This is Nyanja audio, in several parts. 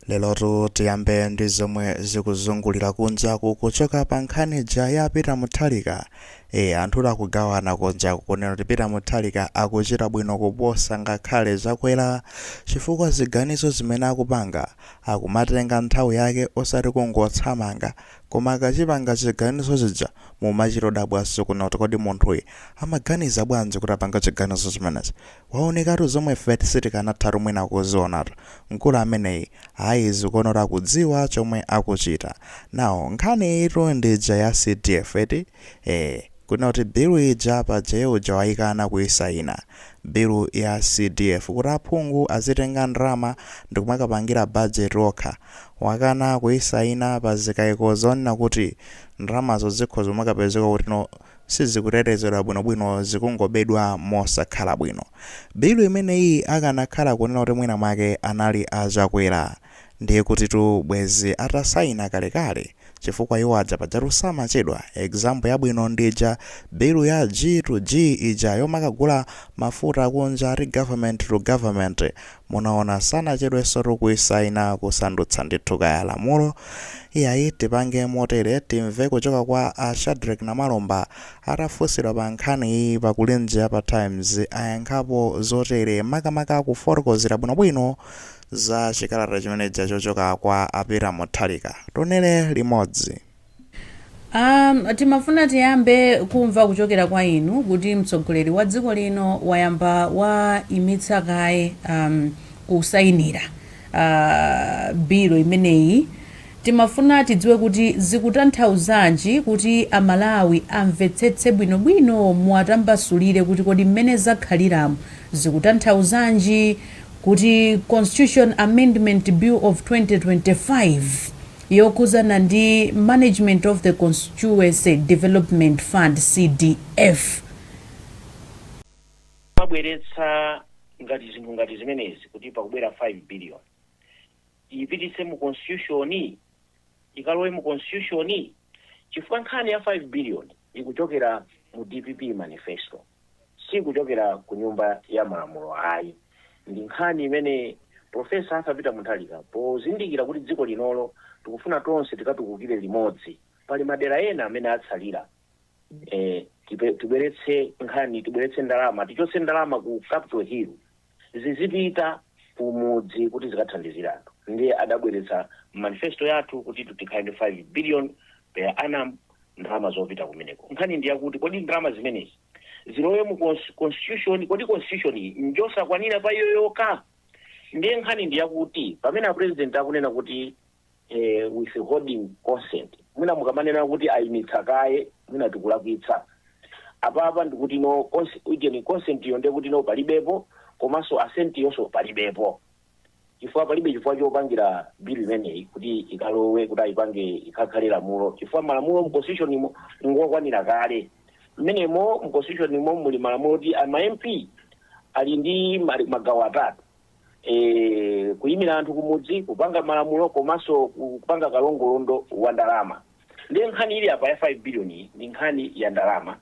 lelotu tiyambe ndi zomwe zikuzungulira kunjaku kuchoka pa nkhani ija ya peter mutharika e anthu akugawana kunjaku kunena kuti peter mutharika akuchita bwino kuposa ngakhale chakwera chifukwa ziganizo zimene akupanga akumatenga nthawi yake osati kungothamanga koma akachipanga chiganizo chija mumachitodabwanso kunena kuti kodi munthuyu amaganiza bwanji kuti apange chiganizo chimenechi Waonekatu zomwe ifetu sitikanathatu mwina kuzionatu mkulu ameneyi ayi zikuonetsa akudziwa chomwe akuchita now nkhani iyitu ndi ija ya CDF eti ee kunena kuti bill ija paja iye uja wayikana kuyisaina bill ya CDF kuti aphungu azitenga ndalama ndikumakapangira budget okha wakana kuyisaina pa zikaiko zonena kuti ndalamazo zikhoza kumakapezeka kuti no sizikutetezedwa bwinobwino zikungobedwa mosakhala bwino. Bill imeneyi akanakhala kunena kuti mwina mwake anali a Chakwera ndiye kutitu bwezi atasaina kalekale chifukwa iwo aja pajatu samachedwa, example yabwino ndi ija bill ya G to G ija yomakagula mafuta akunja ati government to government Munaona sanachedwensotu kuisaina kusandutsa ndithu kaya lamulo, iyayi tipange motere timve kuchoka kwa a Shadreck Namalomba atafunsidwa pa nkhaniyi pa Kulinji ya pa Times ayankhapo zotere makamaka kufotokozera bwinobwino za chikalata chimenechija chochoka kwa a Peter Mutharika tionere limodzi. Um, timafuna tiyambe kumva kuchokera kwa inu kuti mtsogoleri wa dziko lino wayamba waimitsa kaye um, kusayinira uh, bill imeneyi timafuna tidziwe kuti zikutanthauzanji kuti amalawi amvetsetse bwinobwino muwatambasulire kuti kodi mmene zakhaliramu zikutanthauzanji kuti constitution amendment bill of 2025 yokhudzana ndi Management of the Constituency Development Fund, CDF. Amabweretsa ngati zinthu ngati zimenezi kuti pakubwera 5 billion tiipititse mu constitution, ikalowe mu constitution chifukwa nkhani ya 5 billion ikuchokera mu dpp manifesto. Si kuchokera ku Nyumba ya Malamulo ayi. Ndi nkhani imene Prof. Arthur Peter Mutharika pozindikira kuti dziko lino lo tikufuna tonse tikatukukire limodzi, pali madera ena amene atsalira, eh, tibweretse nkhani, tibweretse ndalama, tichotse ndalama ku Capital Hill. zizipita kumudzi kuti zikathandizire anthu ndiye adabweretsa manifesto yathu kuti tikhale ndi 5 billion per annum ndalama zopita kumeneko nkhani ndi yakuti kodi ndalama zimenezi zilowe mu cons- constitution kodi constitution iyi njosakwanira pa iyo yokha ndiye nkhani ndi yakuti pamene a president akunena kuti eeh withholding consent mwina mukamanena kuti ayimitsa kaye mwina tikulakwitsa apapa ndikutino konse ujeni consent-yo nde kutino palibepo komanso assent yonso palibepo chifukwa palibe chifukwa chopangira bill imeneyi kuti ikalowe kuti ayipange ikhakhale lamulo chifukwa malamulo mu constitution mo ngokwanira kale mmenemo mu constitution mo muli malamulo oti ama mp ali ndi mali- magawo atatu e, kuyimira anthu kumudzi kupanga malamulo komanso kupanga kalongolondo wa ndalama ndiye nkhani ili apa ya 5 billion iyi ndi nkhani ya ndalama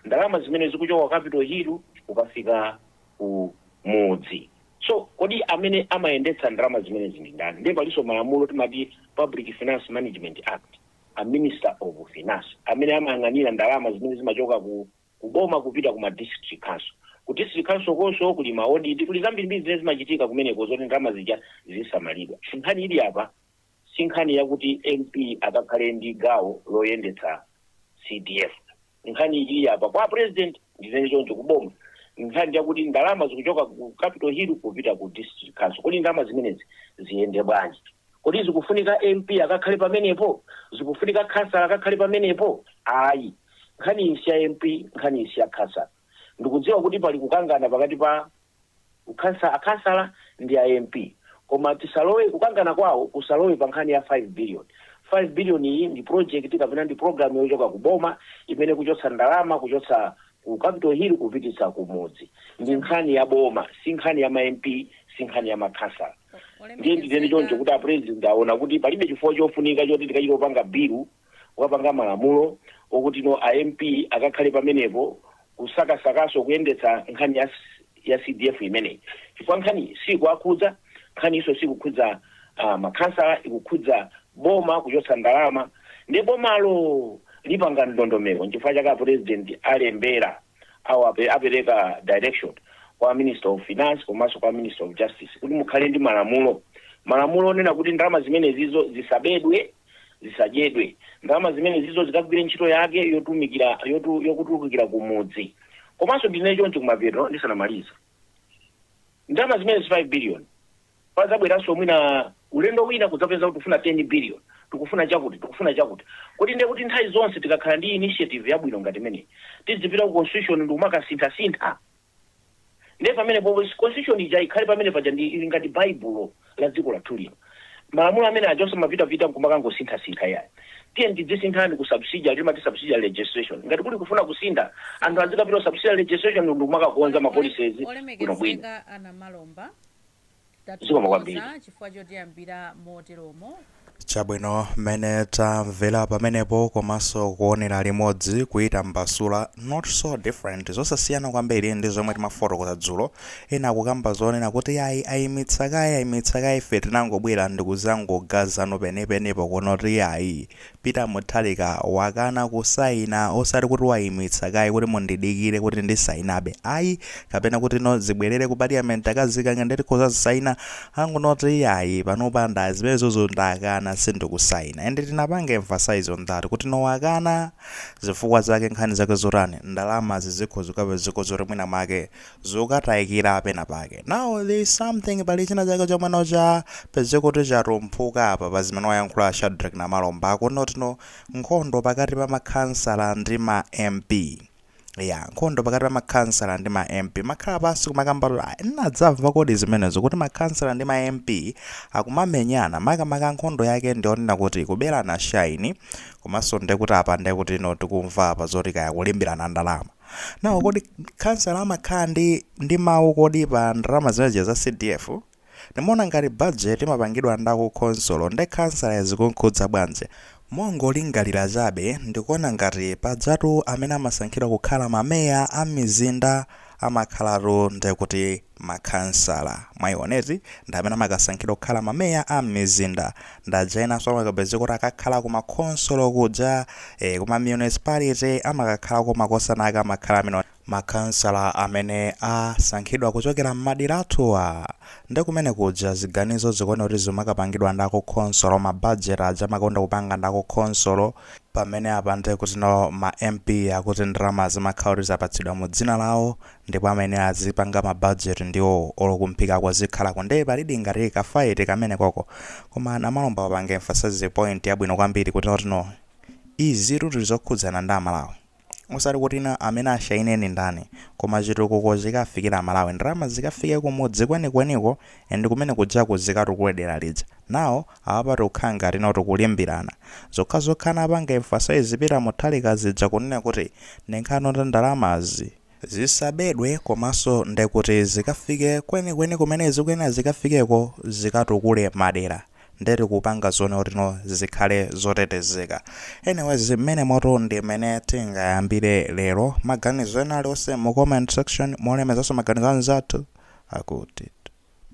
ndalama zimene zikuchoka ku capital hill kukafika ku mudzi so kodi amene amayendetsa ndalama zimenezi ndi ndani ndiye palinso malamulo timati public finance management act a minister of finance amene amayang'anira ndalama zimene zimachoka ku ku boma kupita ku ma district council. Ku district council konso kuli ma audit, kuli zambirimbiri zimene zimachitika kumeneko zoti ndalama zija zisamalidwe. Nkhani ili apa si nkhani yakuti MP akakhale ndi gawo loyendetsa CDF. Nkhani ili apa kwa president ndinene choncho ku boma. Nkhani yakuti ndalama zikuchoka ku Capital Hill kupita ku district council. Kodi ndalama zimenezi ziyende bwanji? Kodi zikufunika MP akakhale pamenepo? Zikufunika khansala akakhale pamenepo? Ayi. Nkhaniyi si ya MP, nkhaniyi si ya khansala. Ndikudziwa kuti pali kukangana pakati pa khansala, akhansala ndi a MP. Koma tisalowe, kukangana kwawo kusalowe pa nkhani ya 5 billion. 5 billion iyi ndi project kapena ndi program yochoka ku boma imene ikuchotsa ndalama kuchotsa ku Capital Hill kupititsa ku mudzi. Ndi Chabwino. nkhani ya boma, si nkhani ya ma MP, si nkhani ya makhansala. O- Ndiye nditere choncho Olemekezeka. kuti a President aona kuti palibe chifukwa chofunika choti tikachite kupanga bill kukapanga malamulo okutino a MP akakhale pamenepo kusakasakanso kuyendetsa nkhani ya ya CDF imeneyi chifukwa nkhaniyi sikuwakhudza nkhaniyinso sikukhudza uh, makhansala ikukhudza boma kuchotsa ndalama nde bomalo lipanga ndondomeko nchifukwa chake a president alembera awo ape, apereka direction kwa minister of finance komanso kwa minister of justice kuti mukhale ndi malamulo malamulo onena kuti ndalama zimenezizo zisabedwe zisadyedwe ndalama zimenezizo zikagwire ntchito yake yotumikira yotu, yokatukulira kumudzi komanso ndinene choncho kumapeto ndisanamaliza ndalama zimenezi 5 billion padzabweranso mwina ulendo wina kudzapeza kuti tikufuna 10 billion, tikufuna chakuti, tikufuna chakuti. Kodi ndiye kuti nthawi zonse tikakhala ndi initiative yabwino ngati imeneyi, tidzipita ku Constitution ndi kumakasinthasintha? Ndiye pamenepo Constitution ija ikhale pamene paja ndi ngati Baibulo la dziko lathu lino. Malamulo amene aja osamapitapita n'kumakangosinthasintha iyayi. Tiyeni tidzisintha ku subsidiary, timati subsidiary legislation. Ngati kuli kufuna kusintha, anthu azikapita ku subsidiary legislation ndi kumakakonza ma policies bwinobwino. olemekezeka a Namalomba Zikomo kwambiri. tathokoza chifukwa chotiyambira moteromo chabwino mmene tamvera pamenepo komanso kuonera limodzi kuyitambasula not so different zosasiyana kwambiri ndi zomwe timafotokoza dzulo ena akukamba zonena kuti ayi ayimitsa kaye ayimitsa kaye ife tinangobwera ndikuzangogaza zenizeni penipenipo kuno kuti ayi Peter Mutharika wakana kusaina osati kuti waimitsa kaye kuti mundidikire kuti ndisainabe ayi kapena kuti no zibwerere ku parliament akazikange nditha kuzazisaina angonena kuti iyayi panopa nda zimenezozo ndakana sindikusaina and tinapanga emphasize on that kuti no wakana zifukwa zake nkhani zake zotani ndalamazi zikhoza zikhoza kuti mwina mwake zokataikira pena pake now there is something pali china chake chomwe no chapezeka kuti chatumphuka apa pa zimene wayankhula Shadrack Namalomba akuti not no nkhondo pakati pa makhansala ndi ma MP nkhondo pakati pa makhansala ndi ma MP makhala pansi kumakamba kuti "Ah, nadzamva kodi zimenezo kuti makhansala ndi ma MP akumamenyana makamaka nkhondo yake ndi yonena kuti kuberana shaini komanso ndekuti apa ndekuti no tikumva apa zoti kaya kulimbirana ndalama nawo kodi khansala amakhala ndi ndi mawu kodi pa ndalama zimenezo za cdf ndimaona ngati budget imapangidwa ndi a ku khonsolo nde khansala zikunkhudza bwanji mongolingalira chabe ndikuona ngati pajatu amene amasankhidwa kukhala mameya a mizinda amakhalatu ndekuti makhansala, mwaiona eti, ndi amene amakasankhidwa kukhala mameya a mizinda, ndi aja enanso amakapezeka kuti akakhala ku ma khonsolo kuja, ee, ku ma municipality, amakakhala ku makhonsolo ake amakhala amene makhansala amene asankhidwa kuchokera mmadera athuwa, nde kumene kuja ziganizo zikuoneka kuti zimakapangidwa ndi a ku khonsolo, ma budget aja amakonda kupanga ndi a ku khonsolo, pamene apa nde kuti no ma MP akuti ndalama zimakhala kuti zapatsidwa mu dzina lawo, ndipo amene azipanga ma budget ndiwo olo kumphikako zikhalako nde palidi ngati ka fight kamenekoko koma Namalomba wapanga emphasize point yabwino kwambiri kuti not no izitu ndi zokhudzana ndi Amalawi osati kuti no amene ashaine ni ndani koma chitukuko chikafikire Amalawi ndalama zikafike kumudzi kwenikweniko and kumene kujaku zikatukule dera lija now apapa tikukhala ngati not kulimbirana zokhazokha anapanga emphasize Peter Mutharika zija kunena kuti ndinkhani yoti ndalamazi zisabedwe komaso ndekuti zikafike kwenikweni kumene zikuyenera zikafikeko zikatukule madera nde tikupanga zoonekuti no zikhale zotetezeka anyways mmenemotu ndi mmene tingayambire lero maganizo ena aliwonse mu comment section mulemezaso maganizo anzathu akuti